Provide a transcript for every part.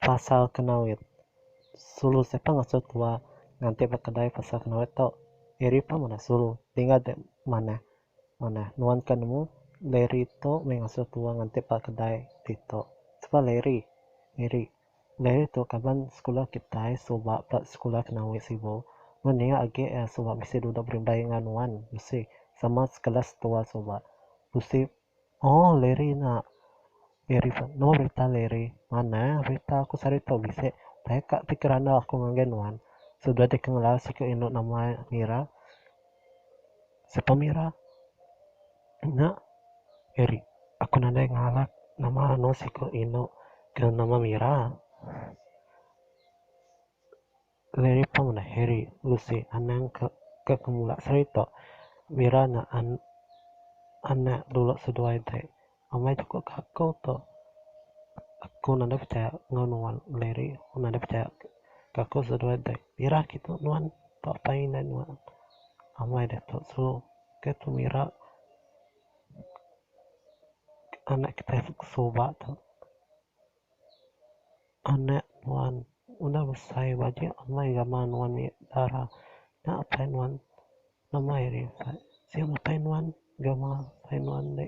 Pasal Kenawit. Sulu siapa ngasuh tua nganti ba kedai pasal Kenawit tu? Eri pun ngundah sulu. Tinggal deh manah. Manah. Nuan ke nemu Larry tu meh ngasuh tua nganti ba kedai ditu. Siapa Larry? Eri. Diary tu kaban sekula kitai suba ba sekula kena wei sibu. Mun nya agi iya suba bisi duduk berindai enggau nuan bisi sama sekelas tua suba. Bisi Aww Larry nya Larry pun nama berita Larry. Manah berita aku sehari tu bisi taika ti kerandau aku ngagai nuan. Suba deka ngelau siku indu nama iya ngira. Sepemira nya eri aku nadai ngalap nama anu siku inu kena nama mira. Lagi pun ngundah eri bisi anang ke mula serita mira nya anak dulu seduai ti. Amai chukup ka aku tu. Aku nadai pechaya enggau nuan Larry. Aku nadai pechaya ka aku seduai dek. Irah agi tu nuan tau apai indai nuan. Amai diatu sulu ke tu mira anak kitai ke suba tu. Anak nuan udah besai baju amai gamal nuan nya dara. Nya apai nuan Amai ari ukat. Sio matai nuan gawa matai nuan ande.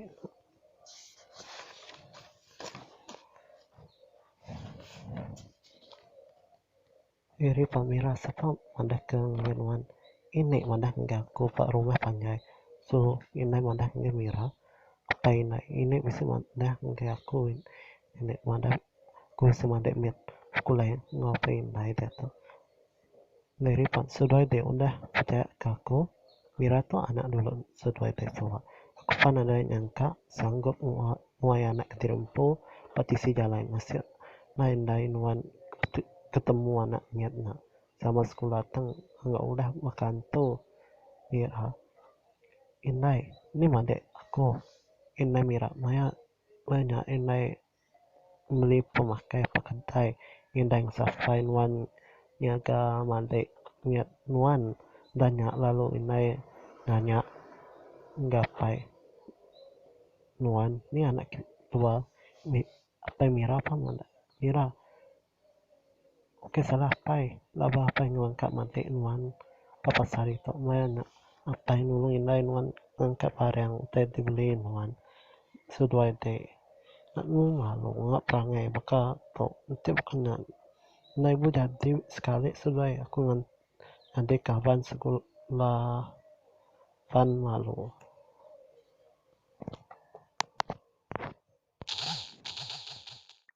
Iri pemira sapa madah ke ngagai nuan. Ini madah enggau aku ba rumah panjai. So inai madah ngagai mira. Apai ina ini bisi madah ngagai aku. Ini madah aku semadi mit sekula enggau apai indai diatu. Lei ripot seduai dek udah pejaya ke aku mira tu anak dulu seduai dek suwa aku pan nadai nyangka sanggup nguai anak kediri empu ba tisi jalai masih lai ndai nuan ketemu anak nyat nya sama sekula tang enggau udah baka antu mira indai nih madik aku indai mira maya indai. meli pemakai peketai indai sapai nuan nyaga madik nyat nuan enda nya lalu indai nanya gapai nuan nya anak kitai tua apai mira pun meda mira. Oke salah apai laba apai nuan ka matik nuan papa sari tu maya nya apai nulung indai nuan ngangkat barang utai ti beli nuan seduai ade nya nemu malu nya perangai baka tu enti baka nya ndai bu jadi sekali seduai aku ngan adik kaban sekula pan malu.